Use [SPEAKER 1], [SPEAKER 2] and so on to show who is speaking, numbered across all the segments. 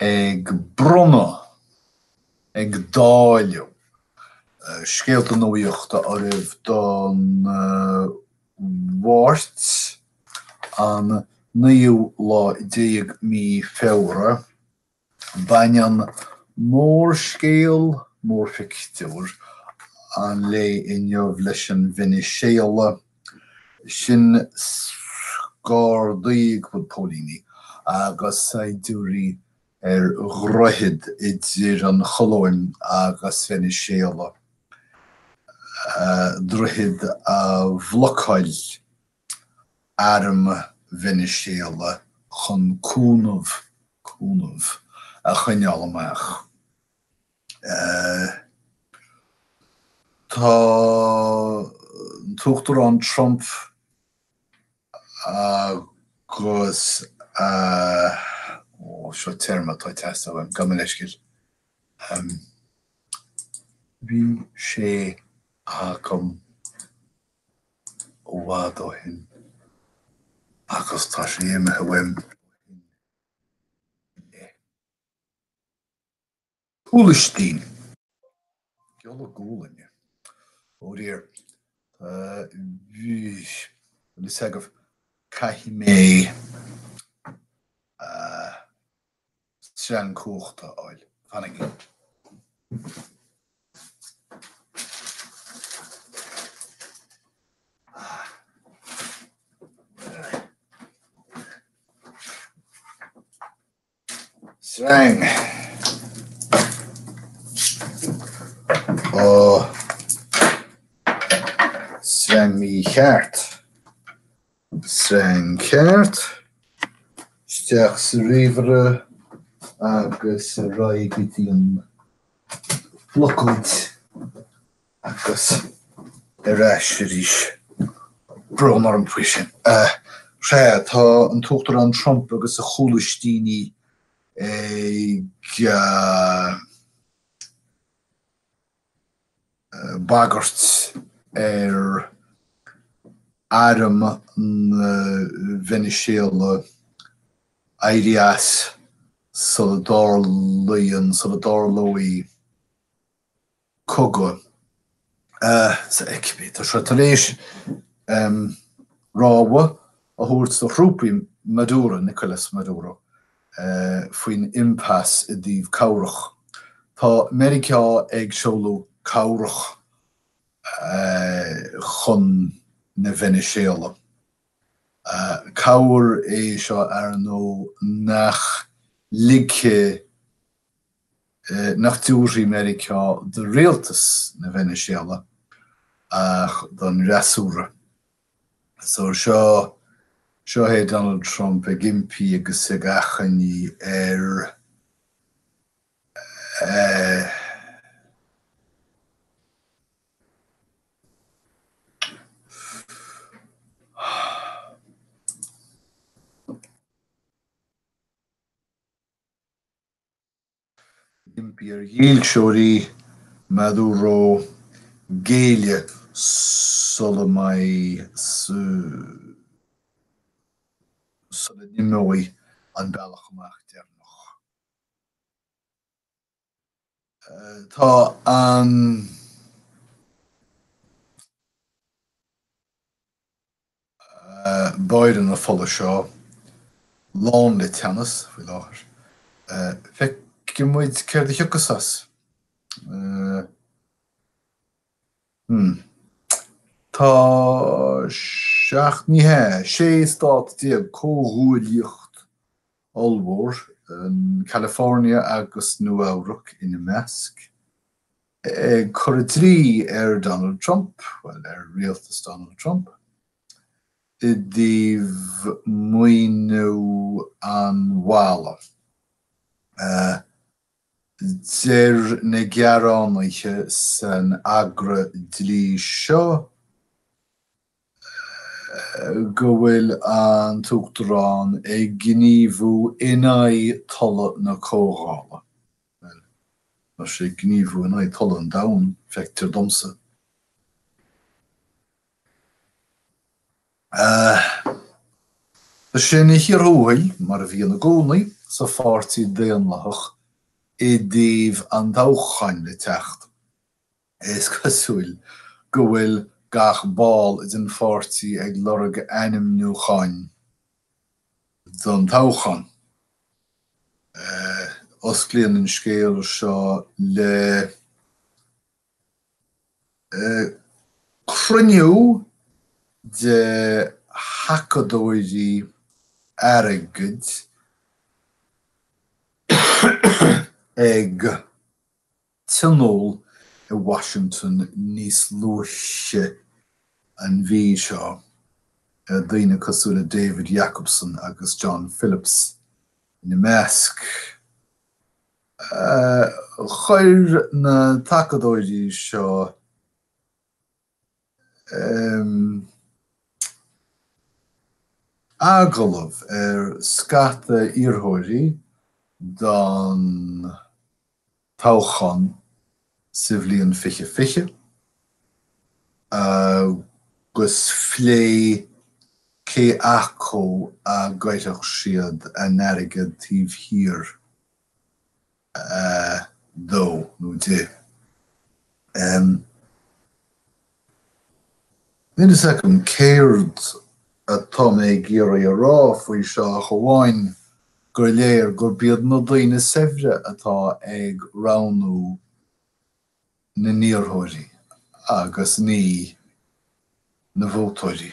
[SPEAKER 1] ag bronnadh, ag dáileadh, scéalta nuaíochta oraibh don Mháirt an naoú lá déag mí Feabhra. Baineann mórscéal, mórphictiúr an lae inniu leis an Veiniséala. sin gardaí agus póilíní agus saighdiúirí ar dhroichead idir an Cholóim agus Veiniséala, droichead a bhlocáil arm Veiniséala chun cúnamh cúnamh a choinneáil amach. Tá an tUachtarán Trump agus oh seo téarma atá ag teastáil uaim, gabh mo leithscéal. Bhí sé agam i bhfad ó shin agus tá sé imithe uaim. Cúlaistín, giolla gualainne. Ó dear, tá a fhios agaibh, caithfidh mé sreang cumhachta a fháil. Fanaigí. sreang ó sreang mhícheart. Sreang ceart. Steach sa ríomhaire agus ar aghaidh go dtí an phlocóid Agus ar ais arís. Brón orm faoi sin. Sea, tá an tUachtarán Trump agus a chúlaistíní ag bagairt ar arm na Veiniséala éirí as sula dtarlaíonn, sula dtarlóidh, cogadh. Tá sé tar éis rabhadh a thabhairt do thrúpaí Maduro, Nicolas Maduro, faoin impasse i dtaobh cabhrach. Tá Meiriceá ag seoladh cabhrach chun na Veiniséala. Cabhair é seo, ar ndóigh, nach ligfidh nach dtabharfaidh Meiriceá do rialtas na Veiniséala ach don fhreasúra. So seo, seo é Donald Trump ag impí agus ag achainí ar eh, iar-dhílseoirí Maduro géilleadh sula mbeidh, sula n-imeoidh an bealach amach deireanach. Tá an bóithrín fola seo lán le teannas faoi láthair. Feicfidh muid céard a thiocfas as. Hmm. Tá seacht, ní hea, sé stát déag comhghuaillíocht ollmhór, California agus Nua-Eabhrac ina measc, ag cur an dlí ar Donald Trump, bhuel, ar rialtas Donald Trump, i dtaobh maoiniú an bhalla. Deir na gearánaithe san agra dlí seo, go bhfuil an tUachtarán ag gníomhú in aghaidh tola na Comhdhála. Bhuel, tá sé ag gníomhú in aghaidh tola an domhain, feictear domsa. Tá sé ina chíor thuathail, mar a bhíonn i gcónaí, sa Pháirtí Daonlathach i dtaobh an toghcháin le teacht. Is cosúil go bhfuil gach ball den pháirtí ag lorg ainmniúcháin don toghchán. Osclaíonn an scéal seo le cruinniú de thacadóirí airgid ag. tionóil i Washington níos luaithe an mhí seo daoine cosúil le David Jacobson agus John Phillips ina measc. Chuir na tacadóirí seo. agallamh ar scata iarrthóirí don toghchán sa bhliain fiche fiche agus phléigh cé acu a gcaithfeadh siad an t-airgead taobh thiar de nó di. Níl fhios agam céard atá mé ag iarraidh a rá faoi seo ach amháin gur léir gurb iad na daoine saibhre atá ag roghnú na n-iarrthóirí agus ní na vótóirí.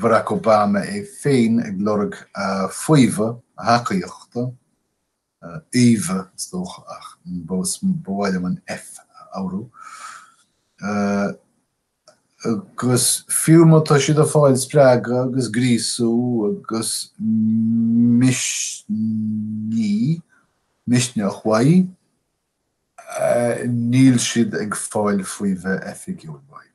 [SPEAKER 1] Barack Obama é féin ag lorg faomhadh, a thacaíochta, a fhaomhadh is dócha ach is maith liom an F a rá, agus fiú má tá siad ag fáil spreagadh agus gríosú agus misnigh, misneach uaidh, níl siad ag fáil faomhadh oifigiúil uaidh.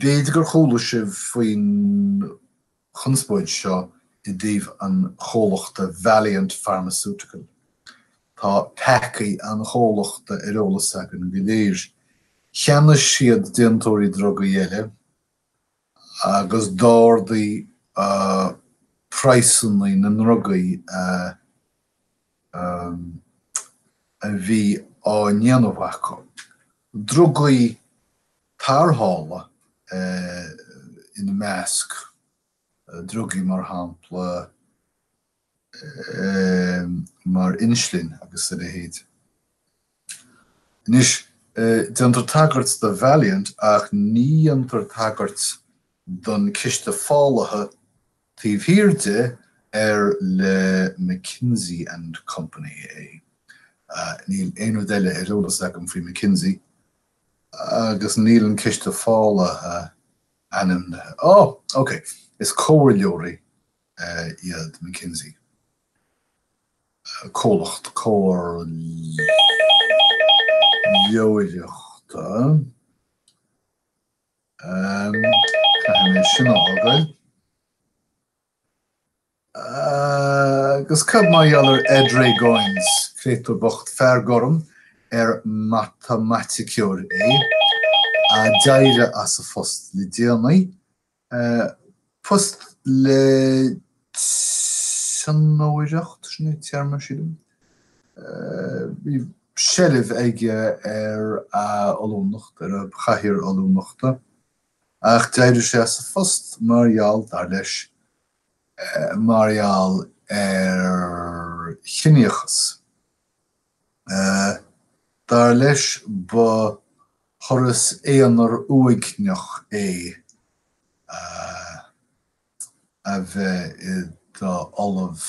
[SPEAKER 1] B'fhéidir gur chuala sibh faoin chonspóid seo i dtaobh an chomhlachta Valeant Pharmaceutical. Tá peacaí an chomhlachta ar eolas againn go léir. Cheannaigh siad déantóirí drugaí eile agus d'ardaigh praghsanna na ndrugaí a bhí á ndéanamh acu. Drugaí tarrthála ina measc, drugaí mar shampla mar inslin agus a leithéid. Anois, déantar tagairt do Valeant ach ní dhéantar tagairt don ciste fálaithe Taobh thiar de, ar le McKinsey and Company é. Níl aon rud eile ar eolas agam faoi McKinsey, agus níl an ciste fálaithe ainmnithe. Ó! Ok. Is comhairleoirí iad McKinsey. Comhlacht comhairleoireachta. Caithfidh mé sin a fhágáil. Agus cad mar gheall ar Edray Goins, créatúr bocht fear gorm ar matamaiticeoir é, a d'éirigh as a phost le déanaí? Post le tionóireacht, sin é an téarma, sílim. Bhí seilbh aige ar a ollúnacht, ar a chathaoir ollúnachta, ach d'éirigh sé as a phost mar gheall, dar leis, mar gheall ar chiníochas. Dar leis ba thuras aonair uaigneach é a bheith i do Ollamh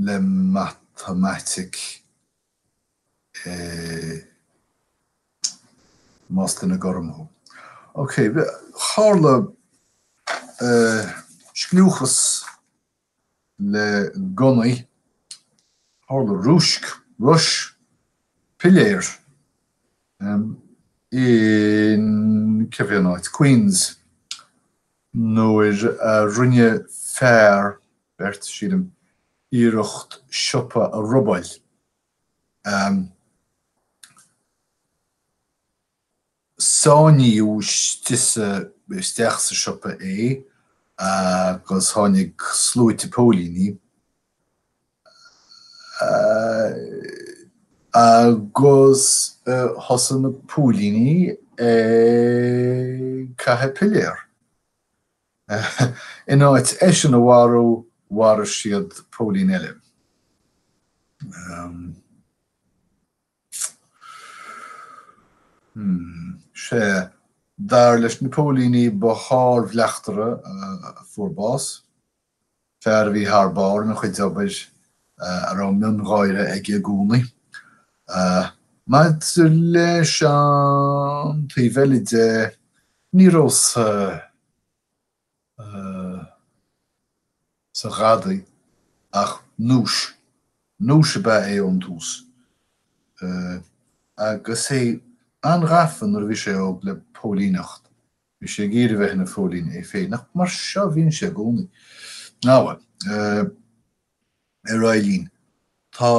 [SPEAKER 1] le Matamaitic, más duine gorm thú. Ok, tharla scliúchas. le gunnaí. Tharla rúisc, rois piléar in, cá bhfuil an áit? Queens, nuair a rinne fear, beirt, sílim, iarracht siopa a robáil. Sáinníodh istigh sa, isteach sa siopa é agus tháinig sluaite póilíní agus thosaigh na póilíní ag caitheamh piléar. In áit eisean a mharú mharaigh siad póilín eile. Sea, dar leis na póilíní ba shár-bhleachtaire a fuair bás, fear a bhí thar barr ina chuid obair a raibh miongháire aige i gcónaí. Maidir leis an taobh eile de, ní raibh sa. sa ghadaí ach núis. Núis ab ea é ón tús. Agus é an-ghafa nuair a bhí sé óg le póilíneacht. Bhí sé ag iarraidh a bheith ina phóilín é féin ach mar seo a bhíonn sé i gcónaí. Ná bhuel, ar aghaidh linn. Tá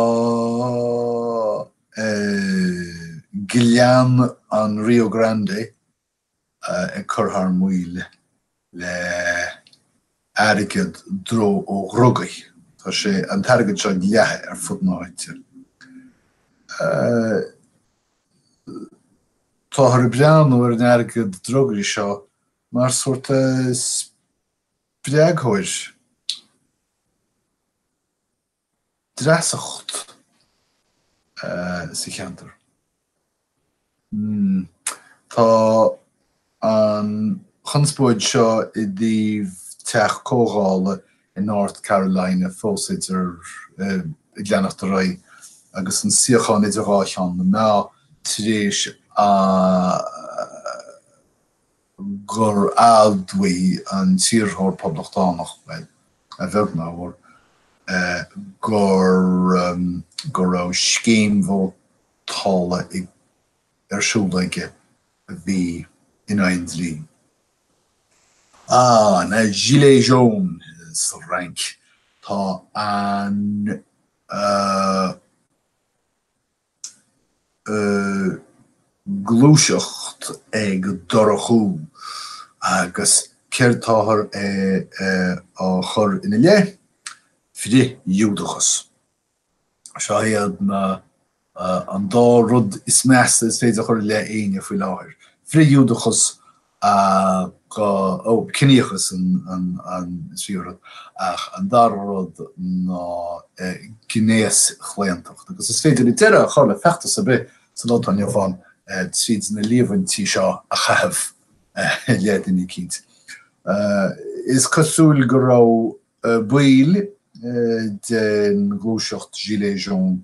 [SPEAKER 1] Gleann an Rio Grande. ag cur thar maoil le hairgead dró ó dhrugaí. Tá sé, an t-airgead seo leata ar fud na háite. Táthar ag breathnú ar an airgead drugaí seo mar sórt spreagthóir. dreasacht sa cheantar. Tá an chonspóid seo i dtaobh teach comhdhála i North Carolina fós idir ag leanacht ar aghaidh agus an suíochán idir dhá cheann na meá tar éis an. gur admhaigh an t-iarrthóir Poblachtánach, bhuel, a bheag nó a mhór, gur, go raibh scéim vótála ag, ar siúl aige a bhí in aghaidh an dlí. Ah, na gilets jaunes sa bhFrainc, tá an, eh, gluaiseacht ag dorchú agus céard táthar á chur ina leith? Frith-Ghiúdachas. Seo iad ná an dá rud is measa is féidir a chur i leith éinne faoi láthair, frith-Ghiúdachas a dhá, ó, ciníochas an tríú rud, ach an dara rud ná gnéaschlaontacht. Agus is féidir deireadh a chur le feachtas ar bith sa lá atá inniu ann tríd na líomhaintí seo a chaitheamh i leith duine eicínt. Is cosúil go raibh baill den ghluaiseacht gilets jaunes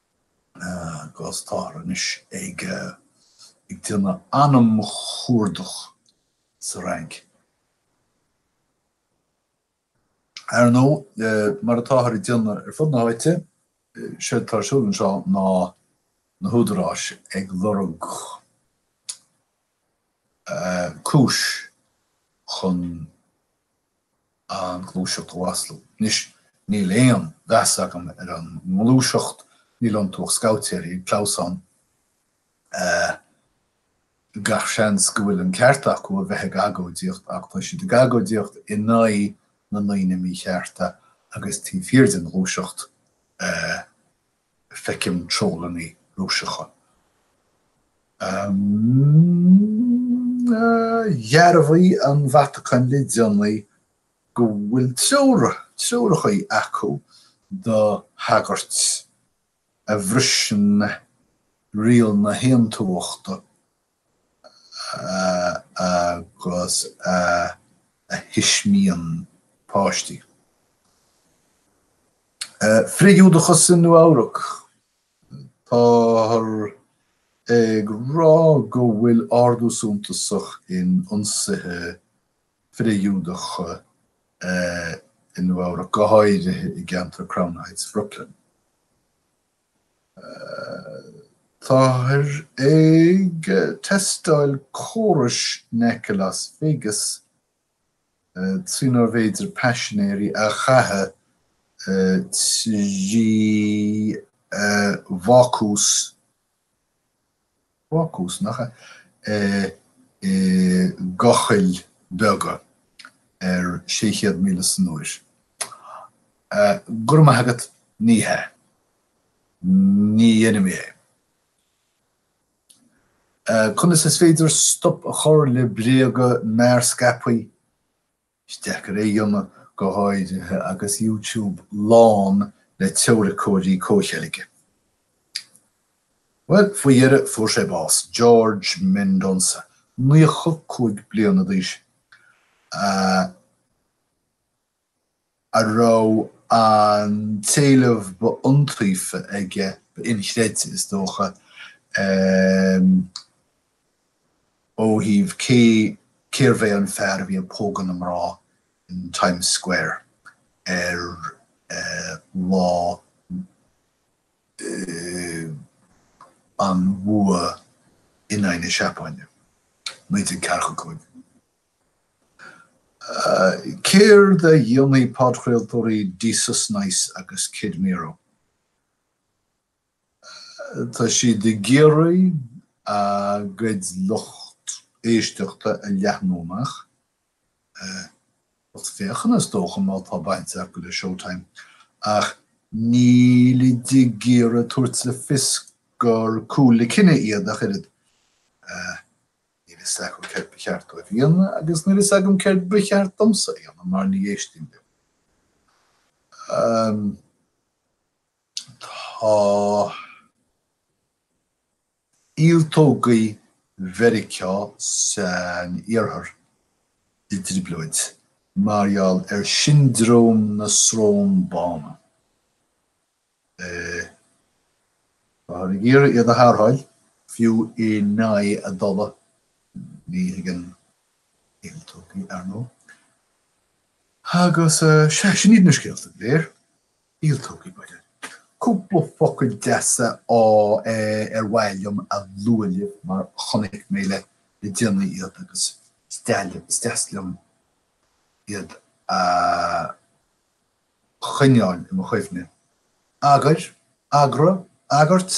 [SPEAKER 1] agus táthar anois ag déanamh anamchuardach sa Fhrainc. Ar ndóigh, mar atáthar ag déanamh ar fud na háite, séard atá ar siúl anseo ná na húdaráis ag lorg cúis chun. an ghluaiseacht a mhaslú. Anois, níl aon mheas agam ar an ngluaiseacht, níl iontu ach scabhaitéirí ag clamhsán. Gach seans go bhfuil an ceart acu a bheith ag agóidíocht ach tá siad ag agóidíocht in aghaidh na ndaoine míchearta agus taobh thiar den ghluaiseacht feicim trollanna Rúiseacha. Dhearbhaigh an Vatacáin le déanaí go bhfuil treoracha acu do shagairt a bhriseann riail na haontumhachta agus a thuismíonn páistí. Frith-Ghiúdachas i Nua-Eabhrac. Táthar ag rá go bhfuil ardú suntasach in ionsaithe frith-Ghiúdacha i Nua-Eabhrac, go háirithe i gceantar Crown Heights Bhrooklyn. Táthar ag teastáil córais in aice Las Vegas trínarbh fhéidir paisinéirí a chaitheamh trí bhácús Ba chúiseannach é i gcochaill beaga ar sé chéad míle san uair. Go raibh maith agat, ní hea. Ní dhéanfaidh mé é. Conas is féidir stop a chur le bréaga mearscaipthe Is deacair é a dhéanamh go háirithe agus YouTube lán le teoiriceoirí comhcheilge. Bhuel, faoi dheireadh fuair sé bás, George Mendonsa, naocha cúig bliana d'aois, a raibh an t-éileamh ba iontaofa aige, ba inchreidte is dócha, Ó thaobh cé, cérbh é an fear a bhí ag pógadh na mná in Times Square ar lá an bhua in aghaidh na Seapáine, 1945? Céard a dhéanfaidh podchraoltóirí Desus Nice agus Kid Mero? Tá siad ag iarraidh a gcuid lucht éisteachta a leathnú amach, lucht féachana is dócha má tá baint acu le Showtime, ach nílid ag iarraidh tabhairt le fios gur cúl le cine iad ach oiread. Níl fhios agam céard ba cheart dóibh a dhéanamh agus níl fhios agam céard ba cheart domsa a dhéanamh mar ní éistím leo. Tá ialtógaí Mheiriceá san iarthar i dtrioblóid mar gheall ar siondróm na srón bána. Táthar ag iarraidh iad a tharrtháil, fiú in aghaidh a dtola, ní thuigeann ialtógaí, ar ndóigh. Agus sea, sin iad na scéalta go léir. Níl tugtha uirthi. Cúpla focal deasa ar mhaith liom a lua libh mar chonaic mé le déanaí iad agus is deas liom iad a choinneáil i mo chuimhne. Agair, agra, agairt.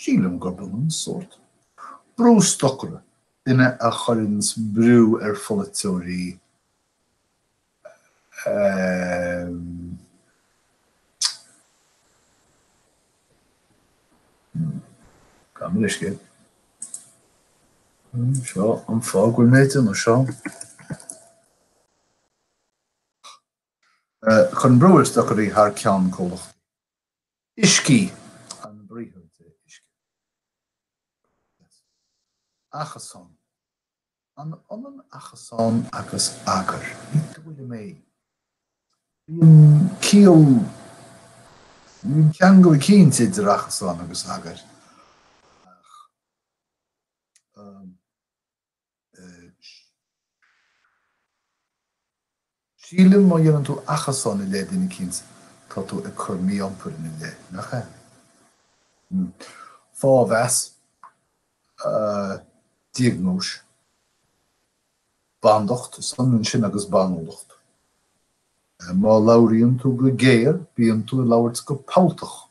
[SPEAKER 1] Sílim gurb ionann sórt. Brústocaire, duine a chuireanns brú ar pholaiteoirí a. Gabh mo leithscéal. Seo an fáth go bhfuil mé ag déanamh seo. Cuireann brú ar stocairí thar ceann comhlacht. Uiscigh, an briathar de uisce. Preas. Achasán. An ionann achasán agus agair? Ní dóigh liom é. Bíonn ciall, bíonn ceangal eicínt idir achasán agus agair. Ach. Sílim má dhéanann tú achasán i leith duine eicínt, tá tú ag cur mí-iompair ina leith, nach ea? Hm. Fáthmheas. Diagnóis. Bandacht, is ionann sin agus banúlacht. Má labhraíonn tú go géar, bíonn tú ag labhairt go feanntach.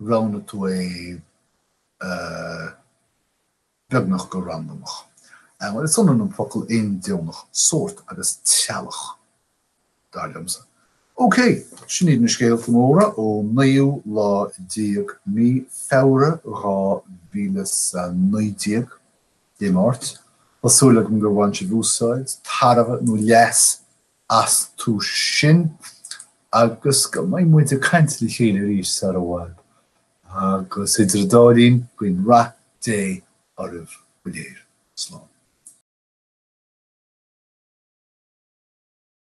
[SPEAKER 1] roghnaigh tú é beagnach go randamach. Is ionann an focal 'randamach', sórt, agus 'treallach', dar liomsa. OK, sin iad na scéalta móra ón naoú lá déag mí Feabhra dhá mhíle 's a naoi déag, Dé Máirt. Tá súil agam gur bhain sibh úsáid, tairbhe nó leas astu sin agus go mbeidh muid ag caint le chéile arís sar i bhfad agus idir an dá linn guím rath Dé oraibh go léir. Slán.